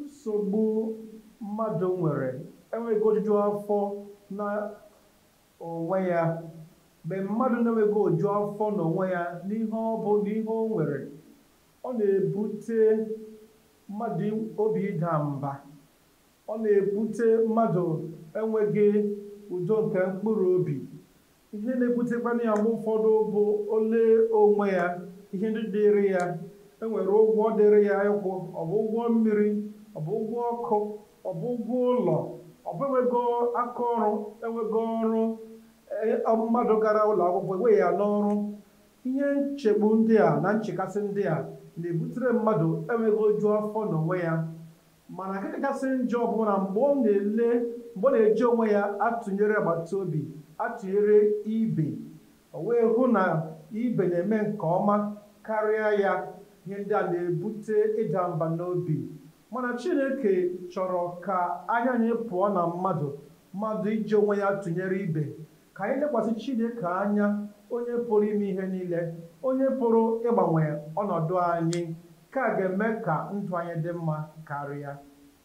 Nsogbu mmadụ nwere enweghị ojuju afọ na onwe ya. Mgbe mmadụ na-enweghị oju afọ na onwe ya n'ihe ọ bụ na ihe o nwere, ọ na-ebute mmadụ obi ịda mba. Ọ na-ebute mmadụ enweghị udo nke mkpụrụ obi. ihe na-ebutekwanụ ya mgbe ụfọdụ bụ o lee onwe ya ihe ndị dịrị ya e nwere ụgwọ dịrị ya ịkwụ ọ bụ ụgwọ mmiri ọ bụ ụgwọ ọkụ ọ bụ ụgwọ ụlọ ọ bụ enweghị aka ọrụ enweghị ọrụ e- ọ bụ mmadụ gara ụlọ akwụkwọ eweghị ya n'ọrụ ihe nchegbu ndị a na nchekasị ndị a na-ebutere mmadụ enweghị oju afọ n'onwe ya Mana nke kachasị njọ bụ na mgbe ọ na-ele mgbe ọ na-eji onwe ya atụnyere agbata obi atụnyere ibe, o wee hụ na ibe na-eme nke ọma karịa ya, ihe ndị a na-ebute ịda mba n'obi. Mana Chineke chọrọ ka anya anyị pụọ na mmadụ mmadụ iji onwe ya tụnyere ibe, Ka anyị lekwasị Chineke anya, Onye pụrụ ime ihe niile, Onye pụrụ ịgbanwe ọnọdụ anyị. Nke a ga-eme ka ndụ anyị dị mma karịa.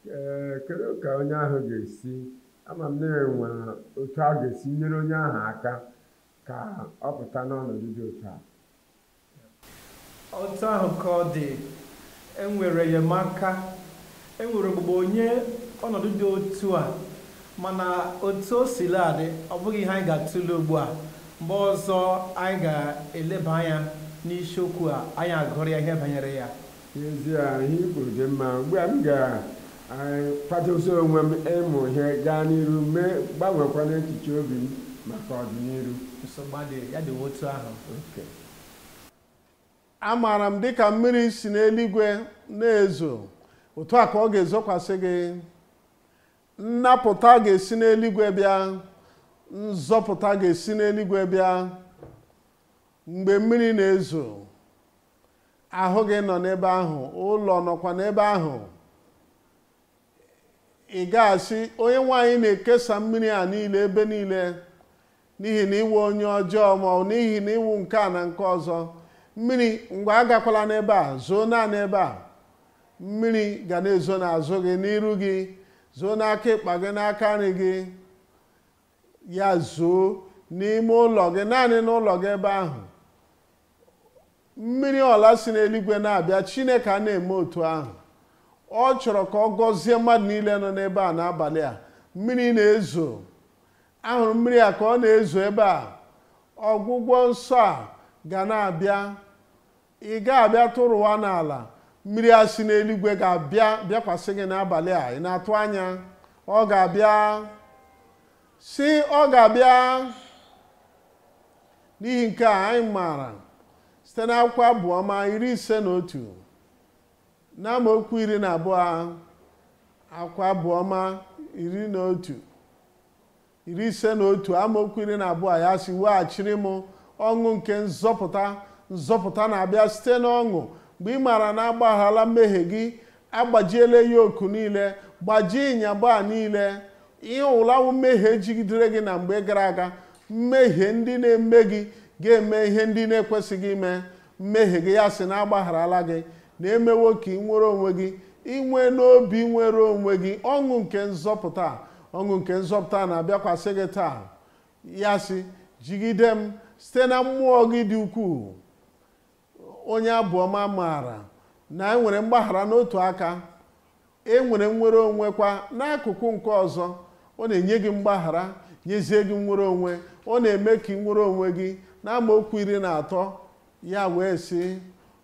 Ee, kedu ka onye ahụ ga-esi? Ama m na e nwere otu a ga-esi nyere onye ahụ aka ka ọ pụta n'ọnọdụ dị otu a. Otu ahụ ka ọ dị, e nwere enyemaka, e nwere ogbugbo nye ọnọdụ dị otu a, mana otu o sila dị, ọ bụghị ihe anyị ga-atụle ugbu a. Mgbe ọzọ anyị ga-eleba anya n'isiokwu a, anyị agụrụ ya ihe banyere ya. N'ezie, ihe i kwuru dị mma. Ugbu a, m ga-akwadozi eh, onwe m ịmụ ihe gaa n'iru mee mgbanwekwa n'echiche obi m maka ọdịnihu. Nsogbu adịghị, ya dịwa otu ahụ. Okay. amaara m dịka mmiri si n'eluigwe na-ezo otu a ka ọ ga-ezokwasị gị nnapụta ga-esi n'eluigwe bịa nzọpụta ga-esi n'eluigwe bịa mgbe mmiri na-ezo ahụ gị nọ n'ebe ahụ ụlọ nọkwa n'ebe ahụ ị ga-asị onyenwe anyị na-ekesa mmiri a niile ebe niile n'ihi na ị wụ onye ọjọọ ma ọ n'ihi na ị wụ nke a na nke ọzọ mmiri ngwa agakwala n'ebe a zoo naanị ebe a mmiri ga na-ezo n'azụ gị n'iru gị zoo n'aka ịkpa gị n'aka nri gị ya zoo n'ime ụlọ gị naanị n'ụlọ gị ebe ahụ mmiri ọla si n'eluigwe na-abịa chineke a na-eme otu ahụ ọ chọrọ ka ọ gọzie mmadụ niile nọ n'ebe a n'abalị a mmiri na-ezo ahụrụ m mmiri a ka ọ na-ezo ebe a ọgwụgwọ nsọ a ga na-abịa ị ga-abịa tụrụwa n'ala mmiri a si n'eluigwe ga-abịa bịakwasị gị n'abalị a ị na-atụ anya ọ ga-abịa sị ọ ga-abịa n'ihi nke a anyị maara site n'akwụkwọ abụọma iri ise na otu na amaokwu iri na abụọ akwụkwọ abụọma iri na otu iri ise na otu amaokwu iri na abụọ ya sị weghachiri m ọṅụ nke nzọpụta nzọpụta na-abịa site n'ọṅụ mgbe ị maara na agbagharala mmehie gị agbajiela yoke niile gbajie ịnyagba a niile ihe ọ wụla wụ mmehie jigidere gị na mgbe gara aga mmehie ndị na-eme gị ga-eme ihe ndị na-ekwesịghị ime mmehie gị ya sị na agbagharala gị na emewo ka ị nwere onwe gị inwe n'obi nwere onwe gị ọṅụ nke nzọpụta ọṅụ nke nzọpụta na-abịakwasị gị taa ya sị jigide m site na mmụọ gị dị ukwuu onye abụọma maara na enwere mgbaghara n'otu aka enwere nnwere onwe kwa n'akụkụ nke ọzọ ọ na-enye gị mgbaghara nyezie gị nnwere onwe ọ na-eme ka ị nwere onwe gị n'amaokwu iri na atọ ya wee sị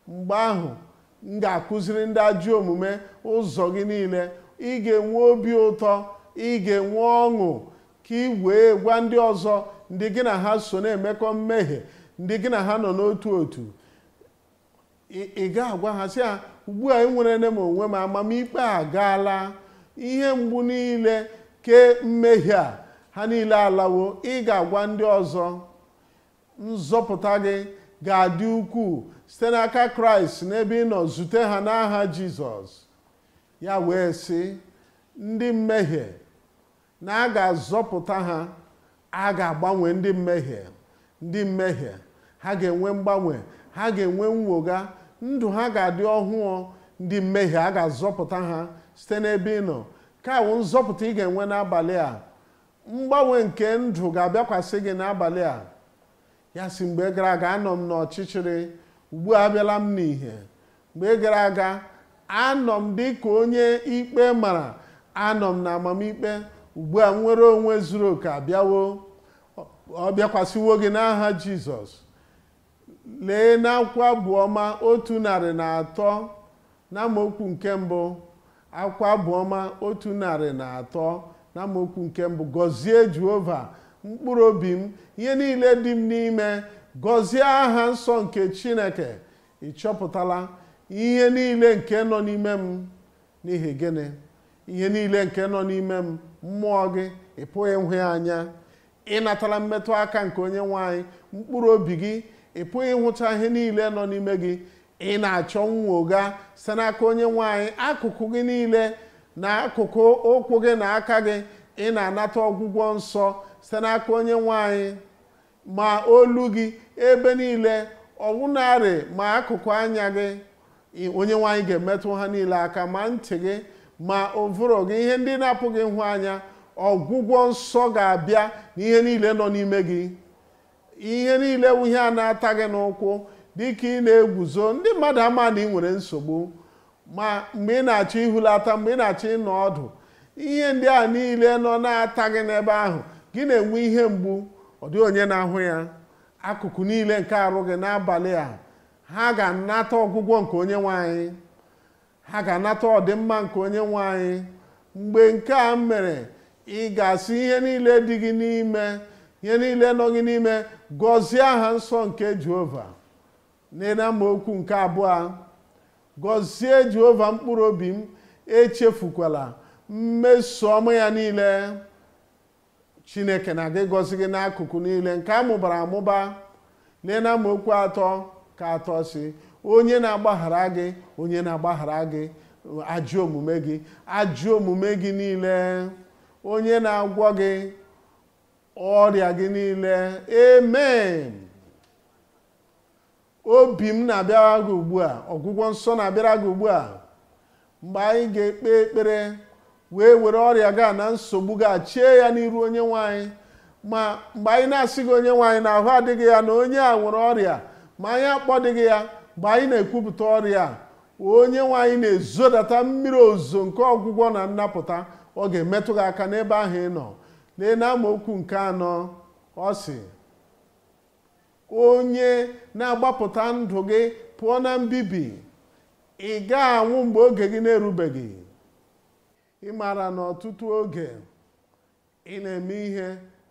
mgbe ahụ m ga-akụziri ndị ajọ omume ụzọ gị niile ị ga-enwe obi ụtọ ị ga-enwe ọṅụ ka ị wee gwa ndị ọzọ ndị gị na ha so na-emekọ mmehie ndị gị na ha nọ n'otu otu ị ga-agwa ha sị ha ugbu a enwerele m onwe m amamikpe agaala ihe mgbu niile ke mmehie a ha niile alawo ị ga-agwa ndị ọzọ nzọpụta gị ga-adị ukwuu site n'aka kraịst n'ebe ị nọ zute ha n'aha jizọs ya wee sị ndị mmehie na a ga-azọpụta ha a ga-agbanwe ndị mmehie ndị mmehie ha ga-enwe mgbanwe ha ga-enwe nnwogha ndụ ha ga-adị ọhụụ ndị mmehie a ga-azọpụta ha site n'ebe ị nọ nke a wụ nzọpụta ị ga-enwe n'abalị a mgbanwe nke ndụ ga-abịakwasị gị n'abalị a ya sị mgbe gara aga anọ m n'ọchịchịrị ugbu a abịala m n'ihe mgbe gara aga anọ m dị ka onye ikpe mara anọ m na amamikpe ugbu a nnwere onwe zuru oke abịawo ọ bịakwasịwo gị n'aha jizọs lee n'akwụkwọ abụọma otu narị na atọ n'amaokwu nke mbụ akwụkwọ abụọma otu narị na atọ n'amaokwu nke mbụ gọzie jehova mkpụrụ obi m ihe niile dị m n'ime gọzie aha nsọ nke chineke ị chọpụtala ihe niile nke nọ n'ime m n'ihi gịnị ihe niile nke nọ n'ime m mmụọ gị ị pụghị ịhụ ya anya ị natala mmetụ aka nke onye nwe anyị mkpụrụ obi gị ị pụghị ịhụcha ihe niile nọ n'ime gị ị na-achọ nnwogha site n'aka onye nwe anyị akụkụ gị niile na akụkụ ụkwụ gị na aka gị ị na-anata ọgwụgwọ nsọ site n'aka onye nwe anyị ma olu gị ebe niile ọwụnarị ma akụkụ anya gị onye nwe anyị ga-emetụ ha niile aka ma ntị gị ma ụvụrụ gị ihe ndị na-apụghị ịhụ anya ọgwụgwọ nsọ ga-abịa n'ihe niile nọ n'ime gị ihe niile wụ ihe a na-ata gị n'ụkwụ dịka ị na-eguzo ndị mmadụ ama na ị nwere nsogbu ma mgbe ị na-achọ ihulata mgbe ị na-achọ ịnọ ọdụ ihe ndị a niile nọ na-ata gị n'ebe ahụ gị na-enwe ihe mgbu ọ dịghị onye na-ahụ ya akụkụ niile nke arụ gị n'abalị a ha ga-anata ọgwụgwọ nke onye nwe anyị ha ga-anata ọdịmma nke onye nwe anyị mgbe nke a mere ị ga-asị ihe niile dị gị n'ime ihe niile nọ gị n'ime gọzie aha nsọ nke jehova lee n'amaokwu nke abụọ gọzie jehova mkpụrụ obi m echefukwala mmeso ọma ya niile chineke na-aga ịgọzi gị n'akụkụ niile nke a mụbara amụba lee na amaokwu atọ ka atọ sị onye na-agbaghara gị onye na-agbaghara gị ajọ omume gị ajọ omume gị niile onye na-agwọ gị ọrịa gị niile amen ọdịmma na-abịara gị ugbu a ọgwụgwọ nsọ na-abịara gị ugbu a mgbe anyị ga-ekpe ekpere wee were ọrịa gị a na nsogbu gị a chee ya n'iru onye nwe anyị ma mgbe anyị na-asị gị onye nwe anyị na ahụ adịghị ya na onye a nwere ọrịa ma anyị akpọdịghị ya mgbe anyị na-ekwupụta ọrịa a onye nwe anyị na-ezodata mmiri ozuzo nke ọgwụgwọ na nnapụta ọ ga-emetụ gị aka n'ebe ahụ ị nọ lee na amaokwu nke anọ ọ sị onye na-agbapụta ndụ gị pụọ na mbibi ị gaghị anwụ mgbe oge gị na-erubeghị ị maara na ọtụtụ oge ị na-eme ihe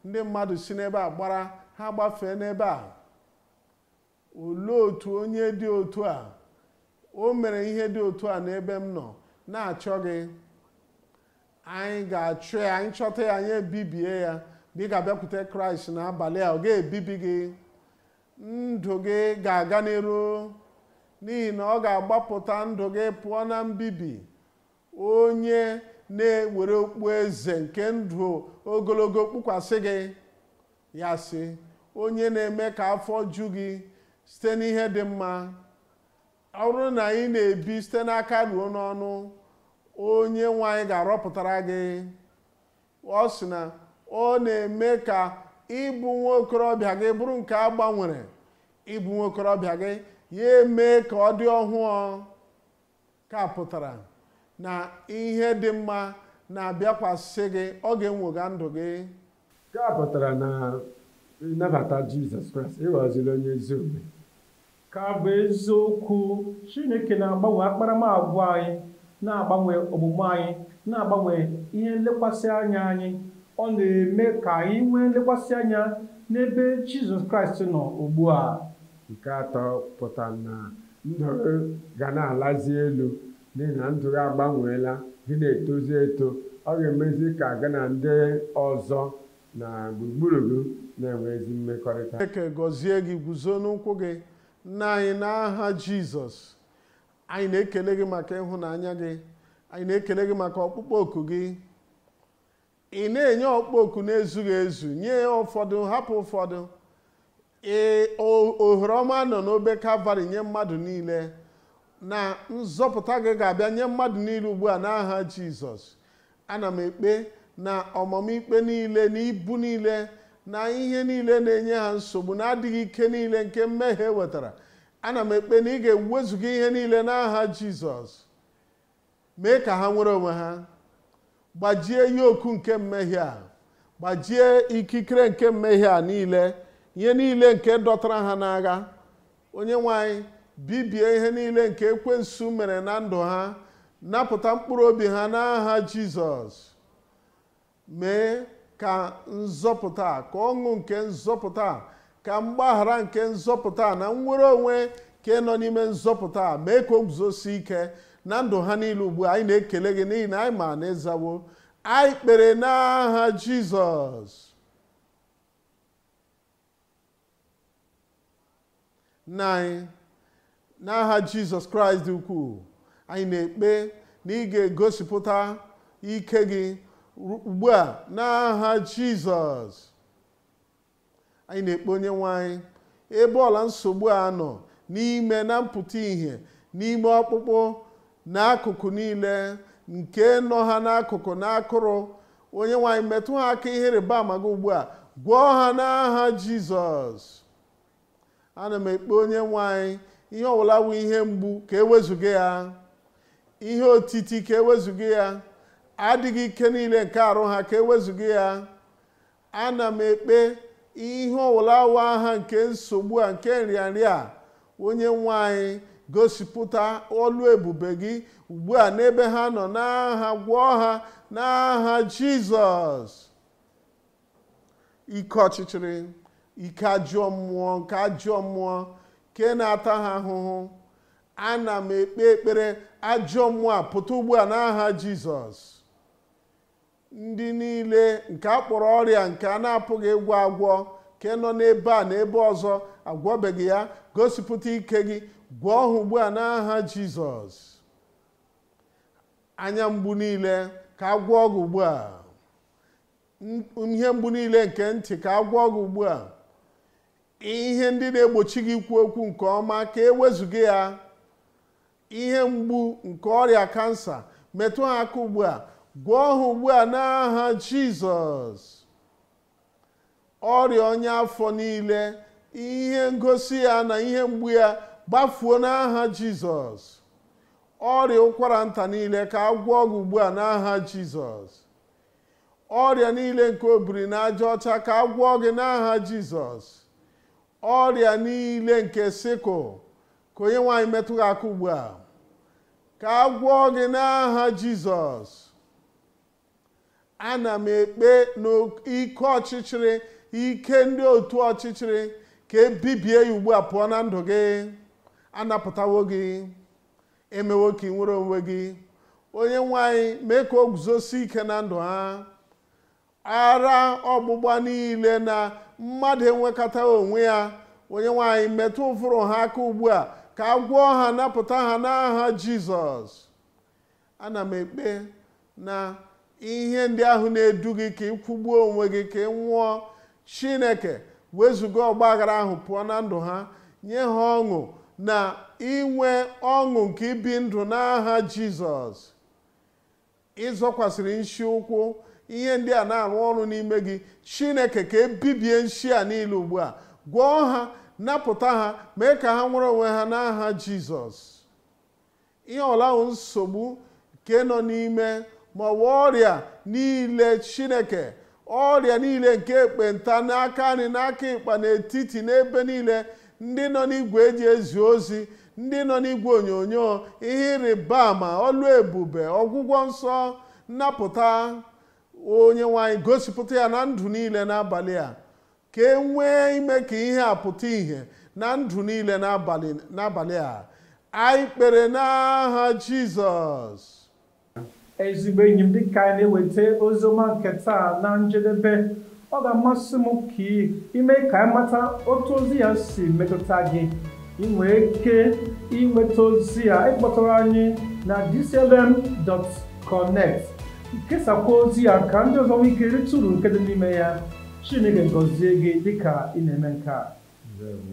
ndị mmadụ si n'ebe a gbara ha agbafee n'ebe a olee otu onye dị otu a o mere ihe dị otu a n'ebe m nọ na-achọ gị anyị ga-achọ ya anyị chọta ya anyị ebibie ya ma ị ga-abịakwute kraịst n'abalị a ọ gaghị ebibi gị ndụ gị ga-aga n'iru n'ihi na ọ ga-agbapụta ndụ gị pụọ na mbibi onye na-ewere okpu eze nke ndụ ogologo kpukwasị gị ya sị onye na-eme ka afọ ju gị site n'ihe dị mma ọ bụrụ na ị na-ebi site n'aka ruo n'ọnụ onye nwe anyị ga-arọpụtara gị ọ sị na ọ na-eme ka ịbụ nwa okorobịa gị bụrụ nke a gbanwere ịbụ nwa okorobịa gị ya eme ka ọ dị ọhụụ nke a pụtara na ihe dị mma na-abịakwasị gị ọ ga-enwogha ndụ gị Nke a pụtara na ị nabata Jizọs Kraịst ị ghọziri onye ezi omume. Nke a bụ eziokwu, Chineke na-agbanwe akparamagwa anyị, na-agbanwe omume anyị, na-agbanwe ihe nlekwasị anya anyị. Ọ na-eme ka anyị nwee nlekwasị anya n'ebe Jizọs Kraịst nọ ugbu a. Nke atọ pụtara na ndụ gị ga na-alazi elu N'ihi na ndụ gị agbanweela, gị na-etozi eto, ọ ga-emezi ka gị na ndị ọzọ na gburugburu gị na-enwe ezi mmekọrịta. Chineke gọzie gị, guzo n'ụkwụ gị. Nna anyị, n'aha Jizọs, anyị na-ekele gị maka ịhụnanya gị. Anyị na-ekele gị maka ọkpụkpọ oku gị. ị na-enye ọkpụkpọ oku na-ezughị ezu nye ụfọdụ hapụ ụfọdụ ee o- ohere ọma nọ n'obe kalvarị nye mmadụ niile na nzọpụta gị ga-abịa nye mmadụ niile ugbu a n'aha jizọs ana m ekpe na ọmụma ikpe niile na ibu niile na ihe niile na-enye ha nsogbu na adịghị ike niile nke mmehie wetara ana m ekpe na ị ga-ewezuga ihe niile n'aha jizọs mee ka ha nwere onwe ha gbajie yoku nke mmehie a gbajie ikikere nke mmehie a niile ihe niile nke dọtara ha n'agha onye nwe anyị bibie ihe niile nke ekwensu mere na ndụ ha napụta mkpụrụ obi ha n'aha jizọs mee ka nzọpụta a ka ọṅụ nke nzọpụta a ka mgbaghara nke nzọpụta a na nnwere onwe nke nọ n'ime nzọpụta a mee ka o guzosie ike na ndụ ha niile ugbu a anyị na-ekele gị n'ihi na anyị ma na ị zawo anyị kpere n'aha jizọs nna anyị n'aha jizọs kraịst dị ukwuu anyị na-ekpe na ị ga-egosipụta ike gị ru- ugbu a n'aha jizọs anyị na-ekpe onye nwe anyị ebe ọbụla nsogbu a nọ n'ime na mpụta ìhè n'ime ọkpụkpụ na akụkụ niile nke nọ ha n'akụkụ na akụrụ onye nwe anyị metụ ha aka ihe ịrịba ama gị ugbu a gwọọ ha n'aha jizọs ana m ekpe onye nwe anyị ihe ọbụla bụ ihe mgbu ka e wezuga ya ihe otiti ka e wezuga ya adịghị ike niile nke arụ ha ka e wezuga ya ana m ekpe ihe ọwụla wụ aha nke nsogbu a nke nrịanrịa a onye nwe anyị gosipụta ọlụ ebube gị ugbu a n'ebe ha nọ n'aha gwọọ ha n'aha jizọs ike ọchịchịrị ike ajọ mmụọ nke ajọ mmụọ nke na-ata ha ahụhụ ana m ekpe ekpere ajọ mmụọ a pụta ugbu a n'aha jizọs ndị niile nke a kpọrọ ọrịa nke a na-apụghị ịgwọ agwọ nke nọ n'ebe a na ebe ọzọ a gwọbeghị ya gosipụta ike gị gwọọ ha ugbu a n'aha jizọs anya mgbu niile ka a gwọọ gị ugbu a ihe mgbu niile nke ntị ka a gwọọ gị ugbu a ihe ndị na-egbochi gị ikwu okwu nke ọma ka e wezuga ya ihe mgbu nke ọrịa kansa metụ ha aka ugbu a gwọọ ha ugbu a n'aha jizọs ọrịa ọnya afọ niile ihe ngosi ya na ihe mgbu ya gbafuo n'aha jizọs ọrịa ụkwara nta niile ka a gwọọ gị ugbu a n'aha jizọs ọrịa niile nke obiri n'aja ọcha ka a gwọọ gị n'aha jizọs ọrịa niile nke sikụl ka onye nwe anyị metụ gị aka ugbu a ka a gwọọ gị n'aha jizọs ana m ekpe na ike ọchịchịrị ike ndị otu ọchịchịrị ka e bibie ya ugbu a pụọ na ndụ gị a napụtawo gị e mewo ka i nwere onwe gị onye nwe anyị mee ka o guzosi ike na ndụ ha ara ọgbụgba niile na mmadụ enwekọta onwe ya onye nwe anyị metụ ụvụrụ ha aka ugbu a ka a gwọọ ha napụta ha n'aha jizọs ana m ekpe na ihe ndị ahụ na-edu gị ka ị kwụgbuo onwe gị ka ị nwụọ chineke wezuga ọgba aghara ahụ pụọ na ndụ ha nye ha ọṅụ na inwe ọṅụ nke ibi ndụ n'aha jizọs ị zọkwasịrị nshi ụkwụ ihe ndị a na-arụ ọrụ n'ime gị chineke ka e bibie nshi a niile ugbu a gwọọ ha napụta ha mee ka ha nwere onwe ha n'aha jizọs ihe ọ bụla wụ nsogbu nke nọ n'ime ma ọ bụ ọrịa niile chineke ọrịa niile nke ekpenta n'aka nri n'aka ịkpa n'etiti n'ebe niile ndị nọ n'igwe e ji ezi ozi ndị nọ n'igwe onyonyo ihe ịrịba ama ọlụ ebube ọgwụgwọ nsọ nnapụta onye nwe anyị gosipụta ya na ndụ niile n'abalị a ka e nwee ime ka ihe a pụta ìhè na ndụ niile n'abalị a anyị kpere n'aha jizọs ezigbo enyi m dịka anyị na-eweta oziọma nke taa na njedebe ọ ga-amasị m ka i mee ka anyị mata otu ozi a si metụta gị ị nwere ike inweta ozi a ị kpọtụrụ anyị na dclm.connect kesakwa ozi a ka ndị ọzọ nwee ike rite uru nke dị n'ime ya chineke gọzie gị dịka ị na-eme nke a Ndewo.